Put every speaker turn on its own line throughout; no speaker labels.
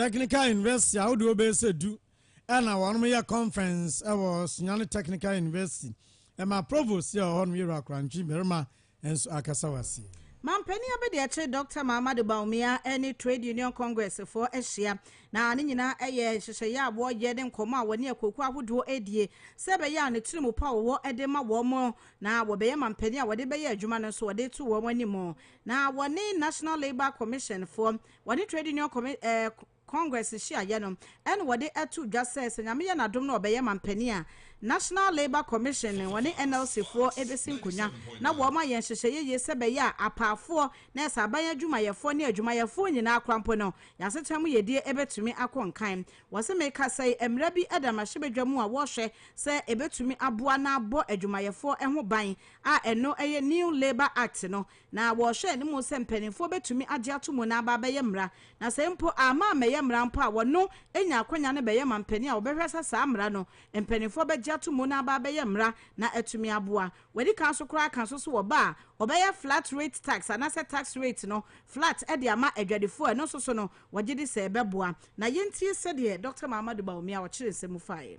Technical
University ahodoɔ bɛyɛ sɛ du ɛna wɔnom yɛ conference ɛwɔ Sunyani Technical University ɛma Provost yɛ ɔhɔ nom yɛ wura Korantwi barima ɛnso akasa wasi. Mampanin
abadiakyire Dɔkta Mahamadou Bawumia ɛne Trade Union Congress foɔ ahyia na ne nyinaa ɛyɛ nhyehyɛeɛ a wɔyɛ ne nkɔmɔ a wɔne akuokuo ahodoɔ ɛredie sɛ ɛbɛyɛ a ne tiri mu pa a wɔwɔ ɛde ma wɔn mo na wɔbɛyɛ mampanin a wɔde bɛyɛ adwuma no nso wɔde to wɔn anim na wɔne National Labour Commission foɔ Wɔne Trade Union Commi eh, Congress hyiaeɛ no ɛna wɔde ato dwa sɛ sɛ Nyame yɛ n'adom na ɔbɛyɛ manpanin a, National Labour Commission no wɔne NLC foɔ ɛbɛsi nkonnwa na wɔn ayɛ nhyehyɛeɛ yie sɛ bɛyɛ a apaafoɔ, nɛɛse, aban adwumayɛfoɔ ne adwumayɛfoɔ nyinaa koraa mpo no yɛn asetena mu yɛdie ɛbɛtumi akɔ nkan. Wɔse mekasa yi mmara bi da mmarahyɛbadwa mu a wɔrehwɛ sɛ ɛbɛtumi aboa na abɔ adwumayɛfoɔ ho ban a ɛno ɛyɛ New Labour Act no Na wɔhwɛ anim sɛ mpanimfoɔ bɛtumi agye ato mu na aba abɛyɛ mmara, na sɛ mpo amma ammɛyɛ mmara mpo a, wɔno nya akwanya no bɛyɛ mampanin a wɔbɛhwɛ sɛ saa mmara no mpanimfoɔ bɛgye ato mu na aba abɛyɛ mmara na atumi aboa. Wɔadi kan nso koraa aka nso so wɔ ba a wɔbɛyɛ flat rate tax anaasɛ tax rate no flat de ama adwadifoɔ a ɛno nso so no wɔgye di sɛ ɛbɛboa. Na yɛntie sɛdeɛ Dɔkta Mahamadou Bawumia ɔkyeree nsɛm mu faeɛ.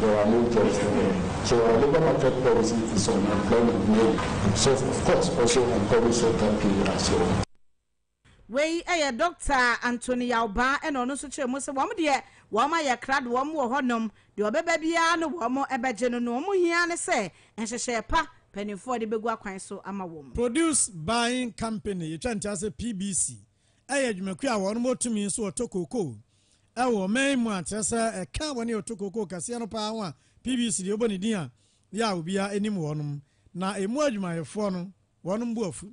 There are no jobs for them so our labour market policy is unemployment mainly so of course also encourage shorter pay as well.
Wei yɛ Dɔkta Anthony Yaubaa ɛna ɔno nso kyerɛ mu sɛ wɔn deɛ wɔn ayɛ krado wɔn wɔ hɔ nom deɛ ɔbɛba biara no wɔn bɛgye no noɔ wɔn hia ne sɛ nhyehyɛɛ pa paninfoɔ de bɛgu akwan so ama wɔn. Produce Buying
Company, yɛtwa ntease PBC, ɛyɛ dwumakuo a wɔn wɔ tumi nso wɔtɔ kookoo ɛwɔ ɔman yi mu a kyerɛ sɛ ɛka wɔn yɛ ɔtɔ kookoo kɛseɛ no paa ho a PBC deɛ ɔbɔ ne din a yɛ a obiara anim wɔnom na ɛmu adwumayɛfoɔ no wɔnom bu afu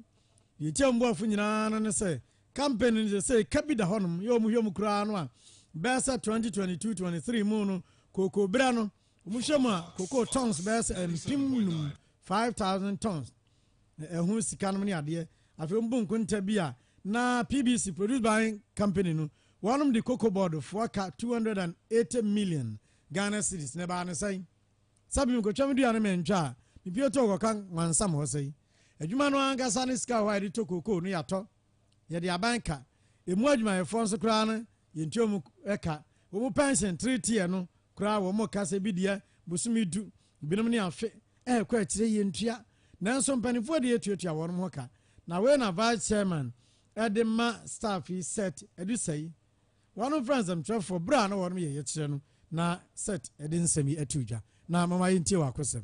deɛ ɛtia wɔn bu afu nyinaa no ne sɛ campaign no sɛ sɛ ɛka bi da hɔnom yɛ wɔn hwɛ mu koraa no a bɛyɛ sɛ 2022-23 mu no kookoo berɛ no wɔn hwɛ mu a kookoo tons bɛyɛ sɛ mpem num 5000 tons ɛho sika nom ne adeɛ afei wɔn bu nkonta bi a na PBC produce by company no wɔn de cocoa board foɔ ka two hundred and eighty million Ghana cedis na ɛbaa ne sɛn sɛbi mekɔtwa me dua no mɛntwa a mepie to ɔkɔka nwansam hɔ sɛi adwuma no ankasa ne sika hɔ a yɛde tɔ cocoa no yɛatɔ yɛde aban ka emu adwumayɛfoɔ nso koraa no yɛntua mu ka wɔn pension three tier no Koraa wɔn mo ka sɛ ebi deɛ bosome du, ebinom ne afe ɛrekɔ akyire yie ntua nanso mpaninfoɔ deɛ tuatua wɔn mo ho ka na wei na vice chairman ɛde ma staff yi set ɛdu sɛi wɔn frɛ nsɛmtwerɛfoɔ berɛ a na wɔn yɛ yɛkyerɛ no na set ɛde nsɛm yi ato dwa na mama yɛntie wɔ akosɛm.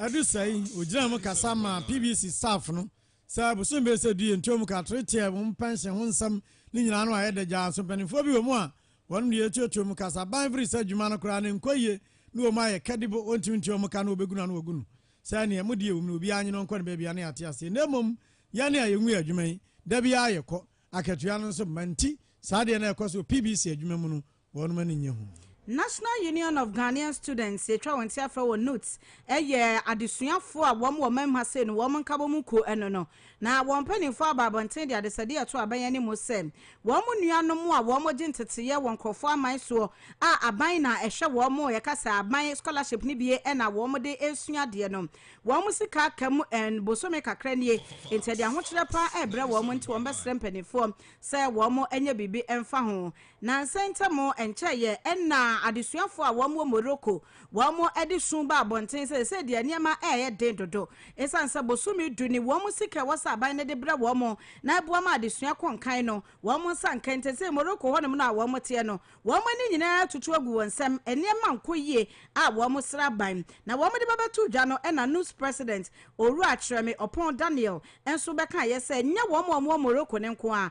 Ɛdu saa yi, ogyinaa mu kasa maa PBC staff no sɛ abosom bɛsɛ du yɛ ntuam ka tore teɛ wɔn pɛnhyen ho nsɛm ne nyinaa no ayɛ dɛ gyaa nso mpaninfoɔ bi wɔ mu a wɔnom deɛ ɛtuatua mu ka sa ban firi sɛ adwuma no koraa no nkɔ yie ne wɔ mu ayɛ kɛ de bo ɔntumi ntua mu ka ne wɔbɛgu no ano wɔgu no sɛ neɛ mo deɛ ɛwom no obiara nye no ɔnkɔ ne baabi a ne yɛate aseɛ na mmom yɛne a yɛnwie adwuma yi da biara yɛkɔ akatua no nso mma nti saa deɛ na ɛkɔ so wɔ PBC adwuma mu no wɔnom ani nyɛ hu. National Union
of Ghanaian Students yɛtwa wɔn ti afrɛ wɔn NUGHT ɛyɛ adesuafoɔ a wɔn wɔ mɛm ha sei no wɔn nkabɔ mu kuo ɛno no na wɔn mpaninfoɔ aba abɔnten de adesɛdeɛ ɛto aban anim sɛ wɔn nuanom a wɔn gye nteteeɛ wɔ nkorɔfoɔ aman soɔ a aban na ɛhwɛ wɔn yɛka sɛ aban scholarship no bie ɛna wɔn de ɛresua adeɛ no wɔn sika aka mu ɛn bosome kakra nie nti ɛde ahokyerɛ paa ɛrebrɛ wɔn nti wɔn bɛsrɛ mpaninfoɔ sɛ wɔn ɛnyɛ biribi ɛmfa ho Nnansa ntam, ɛnkyɛe yɛ na adesuafo a wɔwɔ Morocco wɔde su ba abɔnten sɛ ɛsɛ deɛ nneɛma reyɛ den dodo esiane sɛ bosome du ne wɔn sika a ɛwɔ sɛ aban no de brɛ wɔn na ɛboa ma adesua kɔ nkan no wɔn nsa nka nti sɛ Morocco hɔnom no a wɔteɛ no wɔn ani nyinaa tutu agu wɔn nsam nneɛma nkɔ yie a wɔsrɛ aban na wɔde bɛbɛto dwa no ɛna NUPS president Owura Kyerɛme Ɔpɔn Daniel nso bɛkaeɛ sɛ nyɛ wɔn a wɔwɔ Morocco no nko ara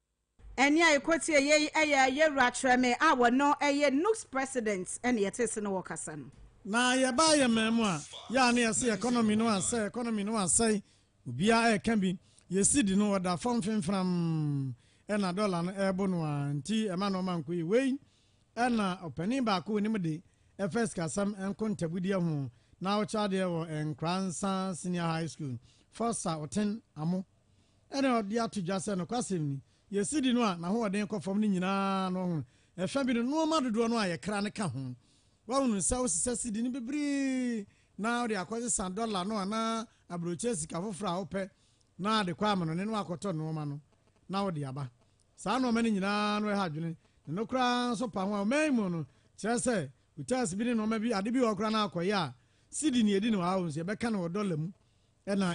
Ɛnne a yɛkɔtiee yei yɛ Yɛwura Kyerɛme a ɔno yɛ NUGS President na yɛtee ase ne ɔrekasa no. Na yɛbaa yɛn
man mu a, yɛ a na yɛse economy no asɛe, economy no asɛe, obiara ɛreka bi. Yɛn cedi no ɔda fam fenfenam, ɛna dɔla no ɛrebo no ara nti ɛma nnoɔma nkɔ yie. Wei ɛna ɔpanin baako wɔ anim de ɛfa sikasɛm nkontabudeɛ ho na ɔkyerɛ adeɛ wɔ Nkoransa Senior High School, Forsa Oten Amo. Ɛnna ɔde ato dwa sɛ nokwasɛm ni. Yɛn sidi no a n'ahoɔden kɔ fam no nyinaa no, ɔhunu. Ɛfã bi no, nnoɔma dodoɔ no a yɛkra no ka ho. Woahunu sɛ wosesa sidi no bebree na wode akɔsesa dɔla no anaa aburokyire sika foforɔ a wopɛ na de kɔ amanɔne na woakɔtɔ nnoɔma no na wode aba. Saa nnoɔma no nyinaa no ɛha adwene, na ɛno koraa nso pa ho a ɔman yi mu no kyerɛ sɛ hotels bi ne nnoɔma bi, ade bi wɔ hɔ koraa na akɔyɛ a sidi na yɛdi no wɔ ha wɔ nso yɛbɛka no wɔ dɔla mu. ɛna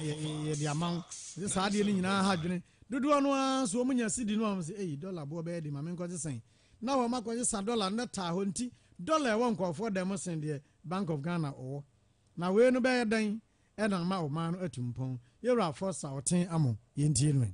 yɛde ama wo sɛ saa adeɛ no nyinaa ha dwene dodoɔ no ara so wɔn nya sidi no a wɔn sɛ eyi dɔla boɔ bɛyɛ de ma me nkɔgye sɛn na wɔn akɔgye sa dɔla no bɛtaa hɔ nti dɔla ɛwɔ nkɔfoɔ dan mu sen deɛ bank of ghana ɔwɔ na wei no bɛyɛ dɛn ɛna ama ɔman no atu mpɔn yɛwura afɔ sa ɔten amo yɛntie no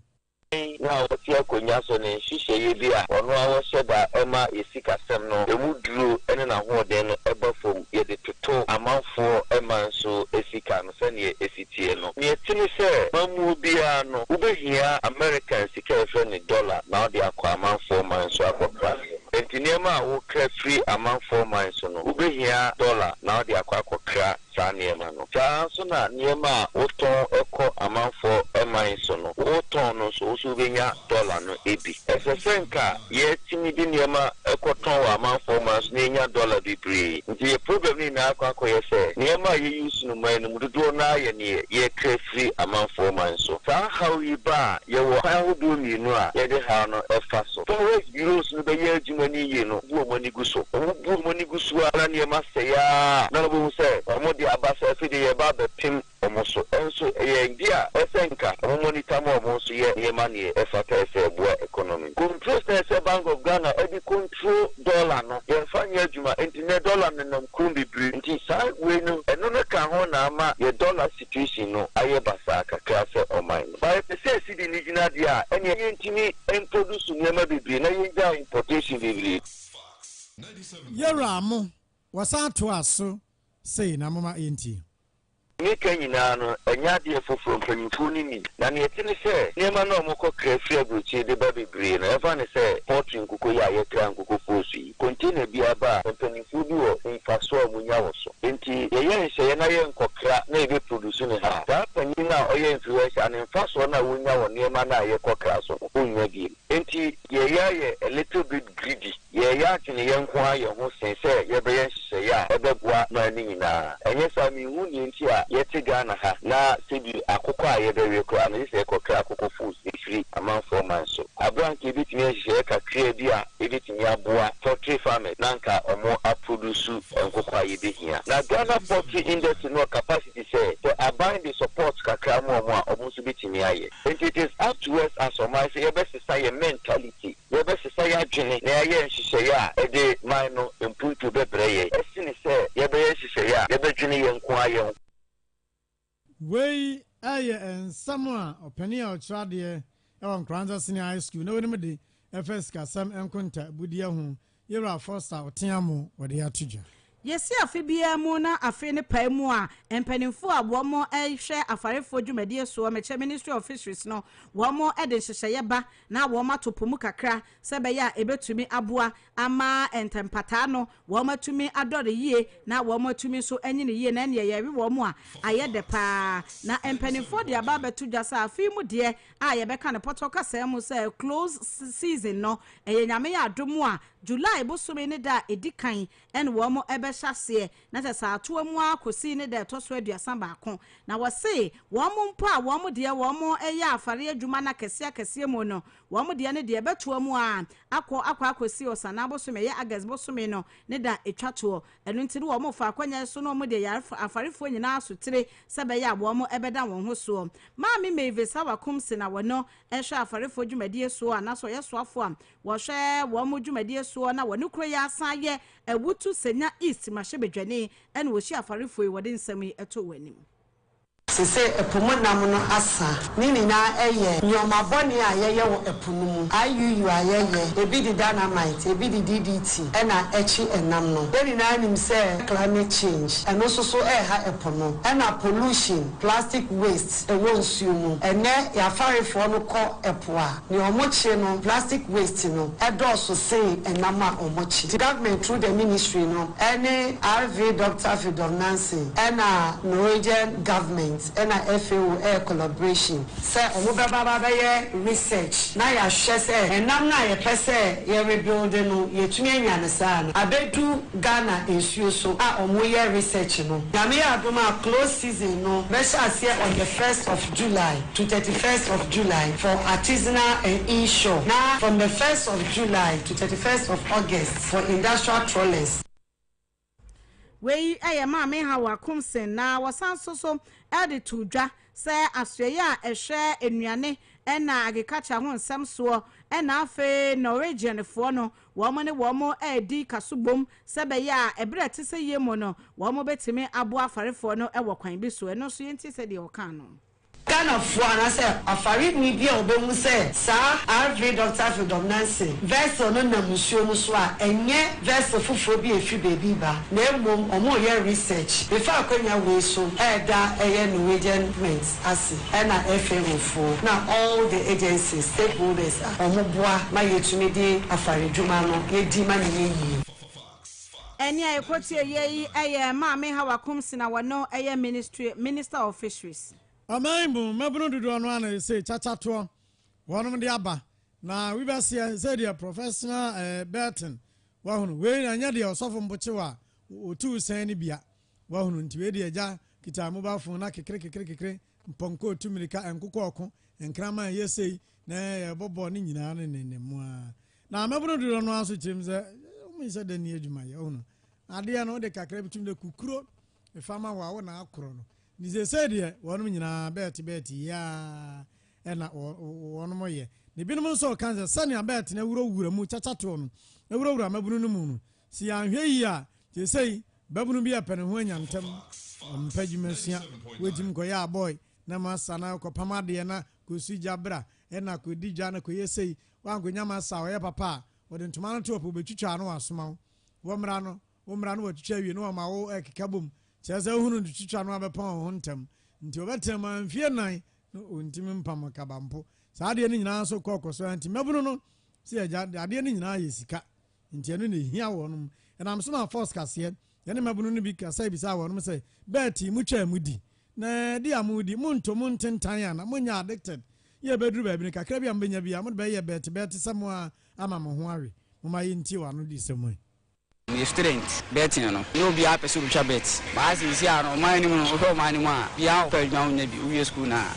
Dɛn na ɔte
akonnwa so ne nhyehyɛeɛ bi a ɔno ara ɔhyɛ da ma yɛ sikasɛm no ɛmu duro ne n'ahoɔden no ba fam yɛde toto amanfoɔ mma nso sika no sɛdeɛ ɛsi teɛ no. Deɛ ɛte ne sɛ, mammuo biara no wobɛhia American sika a yɛfrɛ no dollar na wode akɔ amanfoɔ man so akɔkra. Enti nneɛma a wokra firi amanfoɔ man so no wobɛhia dollar na wode akɔ akɔkra saa nneɛma no. Saa ara nso na nneɛma a wotɔn kɔ amanfoɔ man so no, wotɔn no nso, wo nso wobɛnya dɔla no bi. Ɛsɛ sɛ anka yɛtumi de nneɛma kɔtɔn wɔ amanfoɔ man so na yɛnya dɔla bebree. Nti yɛn problem no nyinaa akɔ akɔyɛ sɛ, nneɛma a yɛ use no man no mu dodoɔ no ara yɛ deɛ yɛkra firi amanfoɔ man so. Saa haw yi ba a, yɛwɔ kwan ahodoɔ mmienu a yɛde haw no fa so. Fa Euros no bɛyɛ adwuma no yiye no bu wɔn ani gu so. Wobu wɔn ani gu so ara na nneɛma sɛe ara na wobehu sɛ wɔde aba sɛ afei de yɛreba abɛpem wɔn so. Nanso ɛyɛ ade a ɛsɛ sɛ anka wɔmmɔ nitan ma wɔn nso yɛ nneɛma nea ɛfata ɛsɛ ɛboa economy. Control sɛ ɛsɛ Bank of Ghana ɛde control dollar no yɛmfa nyɛ adwuma enti nnɛ dollar no nenam kurom bebree nti saa wei no ɛno no ka ho na ama yɛ dollar constitution no ayɛ basaa kakra sɛ ɔman no. But yɛpɛ sɛ yɛsi de no gyina deɛ a ɛneɛ yɛntumi nproduce nneɛma bebree na yɛngyae importation bebree.
Yɛwuraa mo, wɔsan toaa so sei na momma yɛntie. Ne ka
nyinaa no, ɛnyɛ adeɛ foforɔ, mpanyinfoɔ no nim. Na neɛ ɛte ne sɛ, nneɛma no a wɔkɔ kra firi aburokyire de ba bebree no, yɛmfa no sɛ poultry nkukoyɛ a yɛkra nkuko poosu yi. Container bi aba a, mpanimfoɔ bi wɔ mfasoɔ a wɔnya wɔ so. Enti yɛyɛ nhyehyɛeɛ na yɛnkɔkra na yɛbɛ produce no ha a, saa panin no a ɔyɛ influencer no, mfasoɔ no a ɔnya wɔ nneɛma no a yɛkɔkra so no, ɔnnya bio. Enti deɛ yɛayɛ a little bit greedy, yɛreyɛ adwene yɛn nko ara yɛn ho sen sɛ yɛbɛyɛ nhyehyɛeɛ a ɛbɛboa man no nyinaa. Ɛnyɛ saa a, menhu deɛ nti a yɛte Ghana ha na sɛbi akokɔ a yɛbɛwe koraa no, yɛ sɛ yɛkɔkra akokɔ foods. firi amanfoɔ man so. Aboa anka yɛbɛtumi nhyehyɛeɛ kakraa bi a ɛbɛtumi aboa poultry farmers na anka ɔmo aprodusu nkokɔ a yɛbɛhia. Na Ghana poultry industry no wɔ capacity sɛ sɛ aban de support kakra ma ɔmo a ɔmo nso bɛtumi ayɛ. Nti it is up to us as ɔman sɛ yɛbɛsesa yɛn mentality, yɛbɛsesa yɛn adwene na yɛayɛ nhyehyɛeɛ a ɛde man no mpuntuo bɛbrɛ yɛn sene sɛ yɛbɛyɛ nhyehyɛeɛ a yɛbɛdwene yɛn nko ara yɛn ho. Wei
yɛ nsɛm a ɔpanin a ɔkyerɛ adeɛ wɔ Nkoranza Senior High School na wonim de ɛfa sikasɛm nkontaabudeɛ ho, Yewura Foster Oteamu wɔde ato dwa. Yɛsi afe
biara mu na afe no pae mu a, mpaninfoɔ a wɔn hwɛ afarefoɔ dwumadie soɔ, mɛkyɛ Ministry of Fisheries no, wɔn de nhyehyɛeɛ ba na wɔn ato po mu kakra sɛ ɛbɛyɛ a ɛbɛtumi aboa ama ntɛmpataa no wɔatumi adɔre yie na wɔatumi nso anyini yie na ɛnneɛ yɛwe wɔn a ayɛ dɛ paa na mpanimfoɔ de aba abɛto dwa sɛ afei mu deɛ a yɛbɛka no pɔtɔ kasaa mu sɛ close season no ɛyɛ nyame yɛ adom a July bosome ne da a ɛdi kan ɛne wɔn ɛbɛhyɛ aseɛ na kyɛ saa atoa mu ara kɔsi ne da ɛtɔ so aduasa baako na wɔse wɔn mpo a wɔn deɛ wɔn ɛyɛ afare adwuma no akɛseɛ akɛseɛ mu no Wɔn deɛ no deɛ ɛbɛtoa mu ara akɔ akɔ akɔsi Ɔsanaa bosome, ɛyɛ August bosome no ne da ɛtwa toɔ. Ɛno nti no wɔfa akwannya yi so na wɔde yɛ afarefoɔ nyinaa asotire sɛ ɛbɛyɛ a wɔbɛda wɔn ho soɔ. Maame Mavis Awakumse na ɔno hwɛ afarefoɔ dwumadie soɔ anaasɛ ɔyɛ soafoɔ a ɔhwɛ wɔn dwumadie soɔ na ɔne kuro yi asan yɛ Awutu, Senya East mmarahyɛbadwani na ɔhyia afarefoɔ yi. Wɔde nsɛm yi to wɔn anim. Te
sɛ ɛpo mu nam no asa. Ne nyinaa yɛ nneɛma bɔne a yɛyɛ wɔ ɛpo no mu. IUU a yɛyɛ, ebi de dynamite, ebi de DDT na ɛkye ɛnam no. Yɛn nyinaa nim sɛ climate change, ɛno nso so reha ɛpo no. Ɛna pollution, plastic waste, ɛwɔ nsuo mu. Ɛnnɛ yɛn afarefoɔ no kɔ ɛpo a. Nea ɔmo kye no, plastic waste no ɛdɔɔso sen ɛnam a ɔmo kye. Nti government through the ministry no ɛne RV Doctor Fidom Nancy ɛna Norwegian government ɛna FAO ɛyɛ collaboration sɛ ɔmo bɛba aba bɛyɛ research na yahwɛ sɛ ɛnam no a yɛpɛ sɛ yɛ rebuilde no yɛtumi anya no saa no abɛdu Ghana nsuo so a ɔmo yɛ research no. Nyame yɛ adom a close season no bɛhyɛ aseɛ on the first of. July to thirty first of July for artisanal and in-shore na from the first of July to thirty first of August for industrial trawlers.
Wei yɛ Maame Hawa Akomsen na wɔsan nso so de too dwa sɛ asoɛeɛ a ɛhwɛ nnuane na agriculture ho nsɛm soɔ na afei Norwegianfoɔ no Wɔne wɔn redi ka so bom sɛ ɛbɛyɛ a ɛberɛ a ɛte sɛ yei mu no, wɔbɛtumi aboa afarefoɔ no wɔ kwan bi so. Ɛno nso yɛntie sɛdeɛ ɔkaa no. Ghanafoɔ
anaasɛ afareni bi a ɔbɛhu sɛ saa Rv. Dɔkta Freedom Nanson vessel no nam nsuo no so a, ɛnyɛ vessel foforɔ bi a ɛfiri baabi reba, na mmom wɔreyɛ research. Mefa akwanya wei so reda ɛyɛ Norwegian Mint. ase ɛna ɛhwɛ nkurɔfoɔ na all the agencies, stakeholders a wɔn boa ma yɛtumi de afaredwuma no yɛdi ma no yɛ yie.
Ɛnneɛ yɛkɔtie yei ɛyɛ Maame Hawa Kumsina wɔno ɛyɛ Ministry Minister of Fisheries. Ɔman mu mmabunu
dodoɔ no ara na yɛsɛ kyakyatoɔ wɔnom de aba na wibɛseɛ sɛdeɛ Professional eh, Burton wahunu wei na ɛnyɛ deɛ ɔsɔfo mpokyewa a wɔtu sɛn ne bia Wahunu, nti wei deɛ gya kitaa mobile phone na kekere kekere kekere, mpɔnkɔ ɔtu mirika, nkokɔ ɔko, nkraman ɛyɛ sei, na yɛbɔ bɔɔl ne nyinaa ne ne ne mua. Na amɛbono dodɔ no ara so kyerɛ mu sɛ wɔn sɛ dɛ ni adwuma yɛ ɔhunu. Adeɛ no wode kakra bi tum dɛ kukuro efa ma wɔ a wɔn na akorɔ no. Nti sɛsɛ deɛ wɔn nyinaa bɛɛte bɛɛte yiaa ɛna wɔn yɛ. Ne binom nso ɔka sɛ sɛnea bɛɛte na ɛwura wura mu kyakyatoɔ no ɛwura wura amɛbono no mu no si anhwɛ yie a sɛsɛ Babunu bi a pɛ ne ho anya ntɛm, ɔmpɛ adwuma sua, watumi kɔyɛ abɔe na masa na kɔpam adeɛ na kɔsi gya bra na kɔdi dwa na kɔyɛ sei, wankɔnya masa a ɔyɛ papa a, wɔde ntoma no to hɔ pɛ wɔbɛtwitwa na wɔasoma wo. Wɔmmra no, wommra na wɔatwitwa awie na wɔama wo ɛkeka bom. Kyerɛ sɛ wohunu no twitwa no a bɛpam wo ho ntɛm. Nti ɔbɛtena mu ara mfeɛ nnan na ɔntumi mpam kaba mpo. Saa adeɛ no nyinaa nso kɔɔ kɔ so ara nti mmabunu no sɛ agya adeɛ no nyinaa yɛ sika. Nti ɛno na ehia wɔnom. Ɛnam so maa Fɔs kaseɛ, ɛne mmabunu no bi kasae bisaa wɔnom sɛ, Bɛɛti, motwaa mu di? Na di a modi, monto mu ntentan ana? Monyɛ addicted? Yɛ ɛbɛduru baabi no, kakra bi a mobɛnya biara, mode bɛyɛ bɛɛti-bɛɛti sɛ mo ara ama mo ho awe. Momma yɛntie wɔn anodisɛm yi. Refrigerant,
bɛɛti no no, na obiara pɛ sɛ ɔtwa bɛɛti. Baa seesei a no, ɔman no mu no, wohwɛ ɔman no mu a, obiara pɛ adwuma a ɔnyɛ bi, wowie sukuu no a,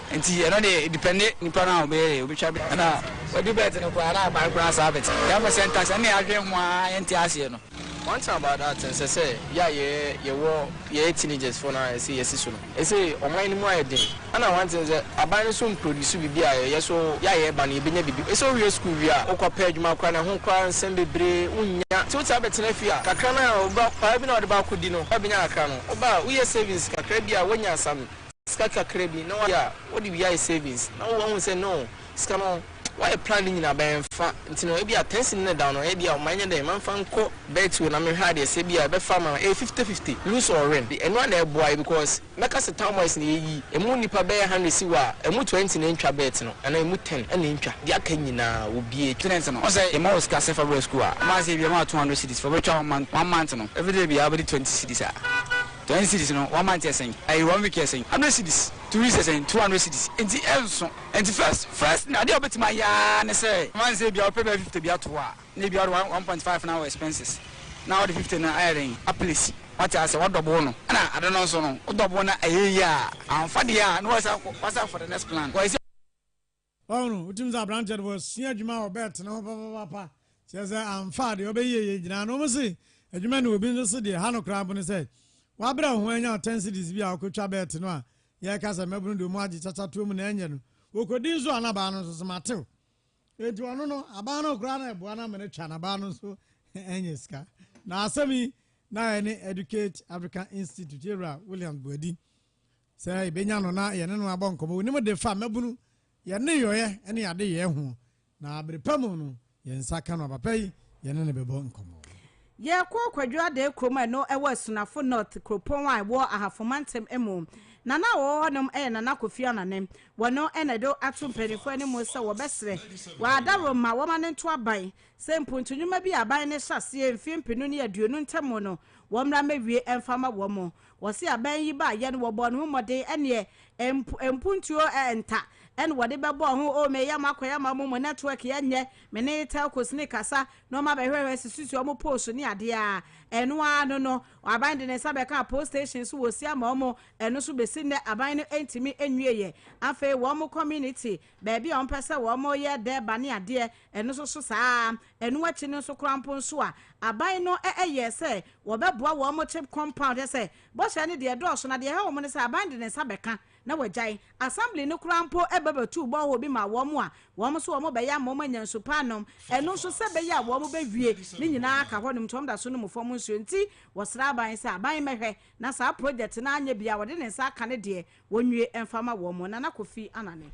Nti ɛno deɛ edipɛnde nipa no a ɔbɛyɛ deɛ ɔbɛtwa bi. Ɛna wadi bɛɛt no koraa na aban koraa saa bɛɛt. Yɛn fɛ sɛntas ɛne adwen ho aa yɛnte aseɛ no. One thing about that nsɛ sɛ yɛ a yɛɛ yɛwɔ yɛyɛ teenagers foɔ no a ɛsɛ yɛsi so no. Ɛsɛ ɔman no mu ayɛ den. Ɛna one thing sɛ aban no nso mproduce biribi a yɛyɛ so yɛ a yɛɛba no yɛbɛnya biribi. Ɛsɛ wowie school wie a wokɔ pɛ adwuma koraa no ɛho koraa nsɛm bebree wonnya. Nti wotaa bɛtena fie a kakra no a wobɛ paa bi no a wode ba akɔdi no wabɛnya kakra no. Woba a woyɛ savings kakra bi a woanya some. sika kakra bi na wayɛ a wode bi ayɛ savings na wo wahu sɛ no sika no wayɛ plan no nyina bɛn fa nti no ebia ten cedi na da no ebia ma nyɛ dɛn ma nfa nkɔ betway na menhwɛ adeɛ sɛ ebia ɛbɛfa ma ɛyɛ fifty fifty lose or win de ɛno a na ɛboa yɛ because mɛka sɛ town boys na yɛyi ɛmu nnipa bɛyɛ hundred si hɔ a ɛmu twenty na ɛntwa bet no anaa ɛmu ten ɛna ɛntwa deɛ aka nyinaa obie student no ɔsɛ yɛma wo sika sɛ fa brɛ school a ɛma sɛ ebia ma wo two hundred cedis fa bɛtwa one month one month no everyday biara wobɛde twenty cedis a. Ten cedis no one month yɛ sɛn ɛyɛ one week yɛ sɛn hundred cedis two weeks yɛ sɛn two hundred cedis nti ɛnso ɛnti first first adeɛ a wobɛtumi ayɛ ara ne sɛ one sɛ ebia wopɛ bɛyɛ fifty bi ato hɔ a na ebia wode one one point five no awɔ expenses na wode fifty no ayɛ dɛn aplesi wate asɛ wadɔbo no ɛna ade no nso no wodɔbo na ɛyɛ yie a amfa deɛ a na wasan wasan for the next plan.
Wahu no,
wotumi
dze aberantsɛ no bɔsua edwuma a ɔbɛtsena hɔ papaapa, kyerɛ dɛ, ammfa a deɛ ɔbɛyɛ yie yie gyina ano. Wɔn se, adwuma no wɔ bi nso se deɛ ɛha no koraa mpo ne sɛ, wabrɛ wo ho anya wo ten cedis bi a wokɔtwa bɛɛte no a yɛreka sɛ mmabunu deɛ wɔn agye kyakyatoa mu na ɛnyɛ no. Wɔkɔdi nso a na baa no nso so matew. Enti ɔno no, abaa no koraa na ɛboa no ama no atwa na baa no nso anya sika. Na asɛm yi na ɛne Educate Africa Institute yɛwura Williams Boadi sɛ yɛbɛnya no na yɛne no abɔ nkɔmmɔ. Wonim de fa mmabunu, yɛn nneyɔeɛ ne yɛn adeyɛɛ ho, na bere pa mu no, yɛn nsa ka no a, papa yi, yɛne no bɛbɔ nkɔmmɔ. Yɛkɔɔ
Kwadwo Adee kurom a ɛno wɔ Asunafo North kuropɔn a ɛwɔ Ahafo Mantam mu. Nana a wɔwɔ hɔnom yɛ Nana Kofi Anane. Wɔno na ɛde ato mpaninfoɔ anim sɛ wɔbɛsrɛ wɔ adaworo ma wɔma no nto aban sɛ mpuntu nnwuma bi a aban no hyɛ aseɛ mfeɛ mpenu ne aduonu ntam no wɔmmra mmɛwie mfa mma wɔn. Wɔse abɛn yi ba yɛn wɔbɔɔ ne ho mmɔden ɛneɛ mpo mpuntuo nta ɛne wɔde bɛbɔɔ ho oo me yam akɔ yam amo mo network yɛ nyɛ me ne telcos ne kasa na ɔmo abɛhwɛhwɛ sisusu ɔmo poles ne adeɛ aa ɛno aa no no aban de ne nsa bɛkaa poll station so wɔsi ama ɔmo ɛno so besi nnɛ aban no ntumi nwie yɛ afei wɔn mo community baabi a wɔpɛ sɛ wɔyɛ dɛɛba ne adeɛ, ɛno nso so saa ara. Ɛno akyi no nso koraa mpo nso a, aban no yɛɛ sɛ wɔbɛboa wɔn chip compound, kyerɛ sɛ, bɔhyɛ no deɛ ɛdɔɔso, na deɛ ɛha wɔn ne sɛ aban de ne nsa bɛka na wɔagyae. Assembly no koraa mpo ba bɛtuu borehole bi maa wɔn a wɔn nso wɔbɛyɛ ama wɔanya nsu pa anom, ɛno nso sɛ ɛbɛyɛ a wɔbɛwie ne nyinaa aka hɔnom nti wɔda so nom fam nsuo. Nti wɔsrɛ aban sɛ aban mmɛhwɛ na saa project no anyɛ bi a wɔde ne nsa aka no deɛ Wɔnwie mfa ma wɔn. Nana Kofi Anane.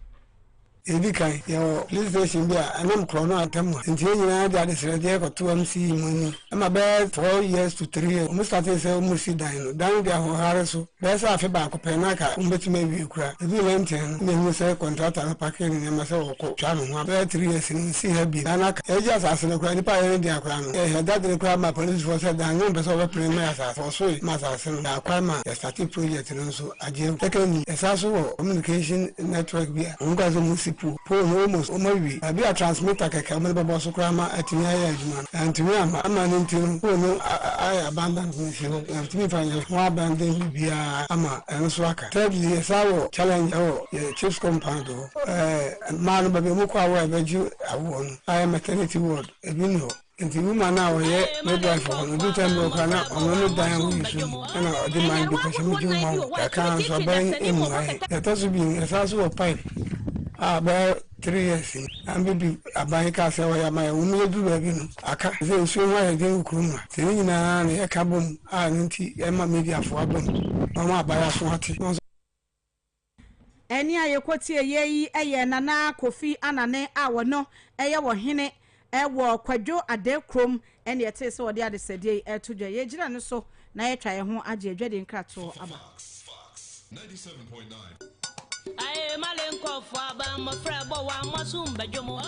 Edi kan,
yɛwɔ police station bi a ɛnam korɔn no atam a nkyia nyinaa de adesrɛdeɛ kɔto MC mu anim. Ɛma bɛyɛ four years to three years wɔn startee sɛ wɔn resi dan no. Dan no de ahoɔhare so bɛyɛ sɛ afe baako pɛ na anka wɔn bɛtumi awie koraa. Ɛduu Lenten no na yɛhunu sɛ contractor no pakee ne nneɛma sɛ ɔrekɔ twa ne ho aba. Bɛyɛ three years no wɔnsii ha bio. Dan no aka. Yɛregye asase no koraa nnipa a ɛyɛ ne dea koraa no yɛhyɛ da dene koraa maa policefoɔ sɛ dan no wɔmpɛ sɛ wɔbɛpene mmɛn asase. Wɔsoe ma asase no daa kwan ma yɛstartee project no nso. Adwen kɛkɛ nyi ɛsa so wɔ communication network bi a wɔn kasa mu si po. Pole no almost wɔn awie. Baabi a transmitter kɛkɛ a wɔn de bɛbɔ so koraa ma atumi ayɛ adwuma no, antumi amma. Amma no nti no, pole no ayɛ abandoned wɔ nsuo hɔ. Yɛntumi mfa nyɛ ho abandon biribiara ama ɛno nso aka. Thirdly, yɛsan wɔ challenge wɔ yɛn Chips compound hɔ. Ɛɛ mmaa no baabi a wɔn kɔ awo a yɛbɛgye awoɔ no ayɛ maternity ward, ebi nni hɔ. Nti woman no a ɔyɛ midwife hɔ no odu time bi ɔkora na ɔno ne dan ho yi so mu ɛna ɔde man bi pɛ sɛ megye wo ma wo kakra nso abɛn mmuae yɛtɔ so bi ɛsan so wɔ pipe a bɛyɛ three years yi an bɛdu aban kaa sɛ wɔyɛ ama yɛ wɔn yɛduru baabi no aka sɛ nsuo ho ayɛ den wɔ kurom ha sɛ ne nyinaa na yɛka bom a ɛno nti ɛma mediafoɔ abom wɔn abayɛ aso ate
Ɛnne a yɛkɔtieeɛ yi yɛ Nana Kofi Anane a ɔno yɛ ɔhene wɔ Kwadwo Adekurom ɛnne yɛtee sɛ ɔde adesɛdeɛ yi reto dwa. Yɛgyina no so na yɛatwa yɛn ho agye adwadie nkratoɔ aba.
Aye
male nkɔɔfoɔ aba mmɔfra ɛbɔ wa mmoaso mba dwom oh.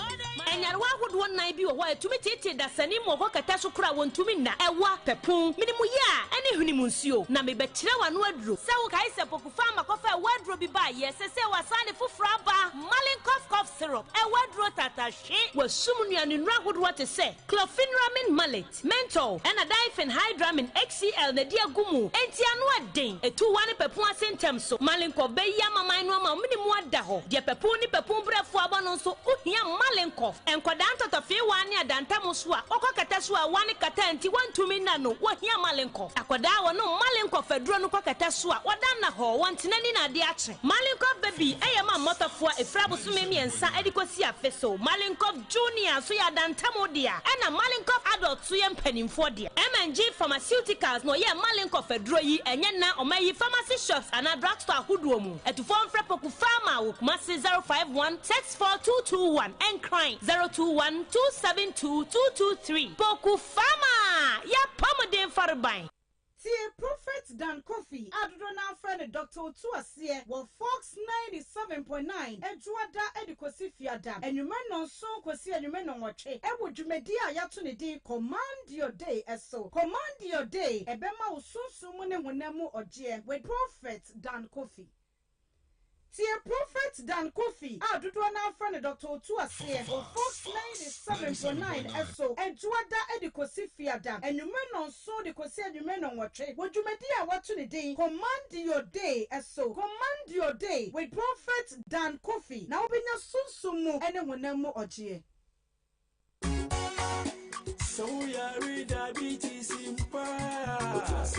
Nyarewa ahodoɔ nnan bi wɔ hɔ a ɛtumi teetee dasani mu wɔ hɔ kɛtɛ so koraa wɔntumi nna, ɛwa, pɛpon, menemuye a ɛne hwenem nsuo. Na mebɛkyerɛ wo ano aduro. Sɛ wokae sɛ popo. Ɔfaa ma kɔfaa ɛwɔ aduro bi baa yɛ. Sesei wasan de foforɔ aba, Malin Cough Cough Syrup, ɛwɔ aduro tata hwe. Wasum nua ne nnuro ahodoɔ te sɛ, Chlorpheniramine Maleate, Menthol, ɛna Diphenhydramine HCl na ɛde agu mu. Enti ano ɛden, ɛtu wa ne papu ase ntɛm so. Malin Cough bɛyi amaman no ama ɔmene mu ada hɔ. Deɛ papu ne papu brɛfoɔ abɔ no nso wo hia Malin Cough. Nkwadaa ntɔtɔfee wa ne adantamo so a, wokɔ kata so a wa ne kata nti wontumi nna no, wo hia Malin Cough. Akɔdaa a wɔnom Malenkov aduro no kɔkata so a wɔda nna hɔ, wɔn ntena ni na ade akye. Malenkov ba bi yɛ ma mmɔtɔfoɔ a ɛfiri abosome mmiɛnsa de kɔsi afe so. Malenkov Junior nso yɛ adantamu dea, ɛnna Malenkov Adult nso yɛ mpanimfoɔ dea. MNG Pharmaceuticals na wɔyɛɛ Malenkov aduro yi, ɛnyɛ nna. Wɔayi pharmacy shops anaa drugstore ahodoɔ mu. Atufoɔ mfrɛ Poku Pharma wɔ Kumasi 051 64 221 Nkran 021 272 223 Poku. Fa ma y'apɔmuden fareban. Tie
Prophet Dan Kofi a dodoɔ no ara frɛ no Doctor Otu Aseɛ wɔ Fox ninety seven point nine Adwoada de kɔsi Fiada anwummerɛ nnɔnson kɔsi anwummerɛ nnɔnwɔtwe wɔ dwumadie a yɛato ne din Command Your Day so. Command Your Day, ɛbɛma wo sunsum mu ne honam mu ɔgyeɛ with Prophet Dan Kofi. Tie Prophet Dan Kofi a dodoɔ no ara frɛ no Doctor Otu aseɛ wɔ Fox 97.9 ɛso Adwuada de kɔsi Fiada anwummerɛ nnɔnson de kɔsi anwummerɛ nnɔnwɔtwe wɔ dwumadie a wɔato ne din Command Your Day ɛso Command Your Day with Prophet Dan Kofi na wobɛnya sunsum mu ne honam mu ɔgyeɛ.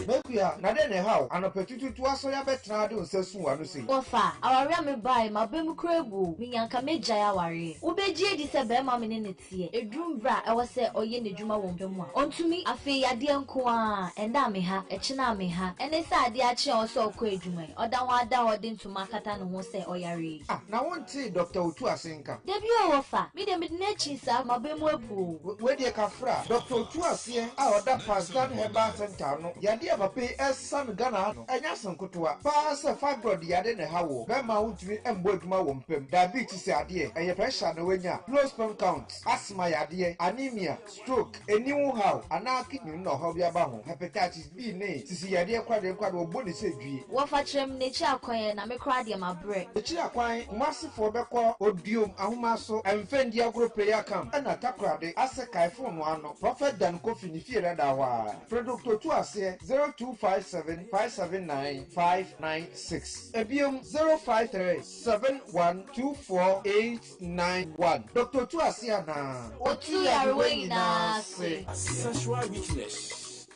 M'akua, na dɛn na ɛha wo? Anɔpatutuutu asɔre abɛtena ha de wo nsa asum w'ano sei? Wɔfa awareɛ a
mebaeɛ, m'aba mu koraa abu o, menya anka mɛgyae awareɛ. Wobɛgye adi sɛ barima a me ne no teɛ, ɛduru mberɛ a ɛwɔ sɛ ɔyɛ n'adwuma wɔ mpa mu a, ɔntumi? Afei yadeɛ nko ara, ɛnnɛ a me ha, ɛkyena a me ha, ɛne sɛ adeɛ akye a ɛwɔ sɛ ɔkɔ adwuma yi, ɔda ho ada hɔ de ntoma akata ne ho sɛ ɔyare yi. Ah, na wontee
Dɔkta Otuasen? nka. Da bi o wɔfa.
Me deɛ mede no akyin saa maba mu abu o. Wei deɛ kafra.
Doctor Otu Aseɛ a ɔda Pazdar Herbal Centre ano, yadeɛ a papa yi ɛresa no Ghana ha no, ɛnyɛ asem nkotoa. Paa sɛ fibroid yade na ɛha woɔ, bɛmma a wontumi mmɔ adwuma wɔ mpam, diabetes adeɛ, ɛyɛ pressure na wanya, low sperm count, asthma yadeɛ, anemia, Stroke, aniwu haw, anaa kidney mu na ɔhaw bi aba ho. Hepatitis B ne sisi yadeɛ kwadeɛ nkwadeɛ wɔbɔ ne sɛ dwie. Wɔfa kyerɛm na akyiri
akwan ɛ na me koraa deɛ mabrɛ. Akyiri akwan, Kumasi
foɔ bɛkɔ Odiom ahoma so ɛmfɛ ndi agorɔ pɛ yi akam ɛna Takoradi asɛ kae fon no ano Prophet Dan Kofi ne fie dadaa hɔ aa. Frɛ Doctor Otuaseɛ 0257 579 596. Ɛbiom 0537 124 8. nine one. Doctor tu
ase
anaa. Otu yarewa nyinaa ase. Sexual weakness.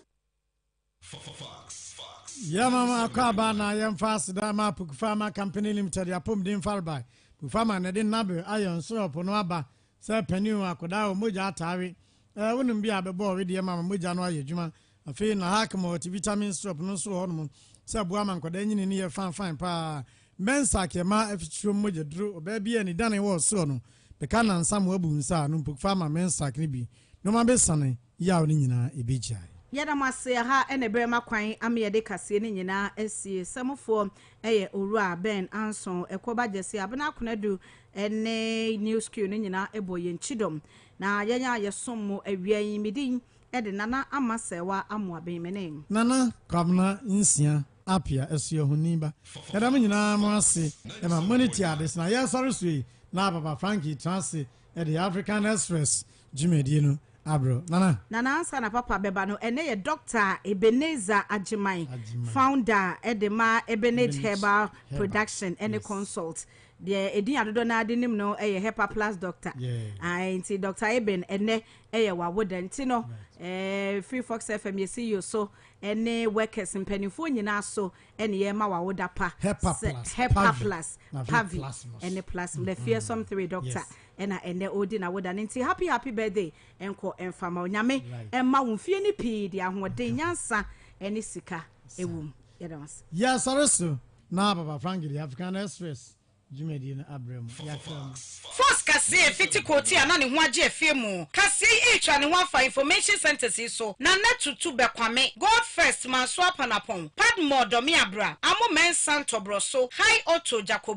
Yeah mama akɔ aba na yɛmfa aseda ma apoku farma company limited apɔmuden farba bu farma na ɛde nabe ayɛ nsoro ɔpo no aba sɛ panin akodaa wɔ mogya ataare eh, wonom bi a bɛbɔ ɔwedeɛ ma ma mogya no ayɛ adwuma Afei Nahac Multivitamin Syrup no nso wɔ hɔnom sɛ ɛboa ma nkwadaa nyini no yɛ fanfan paa. Mbensac ɛma afikyire mu mogya duru. Ɔbaa bi a ne dane wɔ ɔsoro no bɛka nnansa ma wabu nsa a, numpuk fa ma Mbensac no bi na ɔma bɛsiane yaw no nyinaa ɛbɛgyae. Yɛda mo ase,
ɛha na ɛberɛ ma kwan ama yɛde kaseɛ no nyinaa asie. Samufoɔ yɛ Owura Ben Anson, Ɛkoba Gyasi, Abena Konadu ne New School no nyinaa bɔ yɛn kyidɔm. Na yɛn a yɛsom mo awia yi, me din de Nana Ama Serwa Amoabemenem. Nana Kwabena
Nsia Apia Asuahunni ba. Yɛda mo nyinaa mo ase ma mo ani tua ade so na yɛ sɔre so yi na Papa Frankie tra ase de African Express dwumadie no abrɛ wo. Nana. Nana ansa na Papa bɛba
no ɛnɛ yɛ Doctor Ebenezer Agyeman founder de ma Ebenage Herbal Production ne Consult. Deɛ ɛdin adodɔ no ara de nim no yɛ Hepa Plus Doctor. Ae nti Doctor Eben ɛnɛ ɛyɛ wawoda nti no eh, free fox fm yɛsi yo so ɛne workers mpanimfoɔ nyinaa so ɛne yɛma wawoda pa hepa plus pavi ɛne plus mm-hmm. lafie som three doctor ɛna ɛnɛ ɔdi na woda no nti happy happy birthday ɛnkɔ ɛmfama onyame ɛma wo mfie no pii de ahoɔden nyansa ɛne sika ɛwom yɛdɛ wase yɛsɔre so
na papa frank de african express Dwumadie no abrɛ mo yɛatra mu. Force kasee
fiti Korti a na ne ho agye afie mu kaseɛ yi retwa ne ho afa information centres yi so, Nana Tutu Bɛkwame, God First, Mansoa Panapɔn, Padmore Dɔmeabra, Amo Mensah Ntɔborɔso, High Otto, Jacob.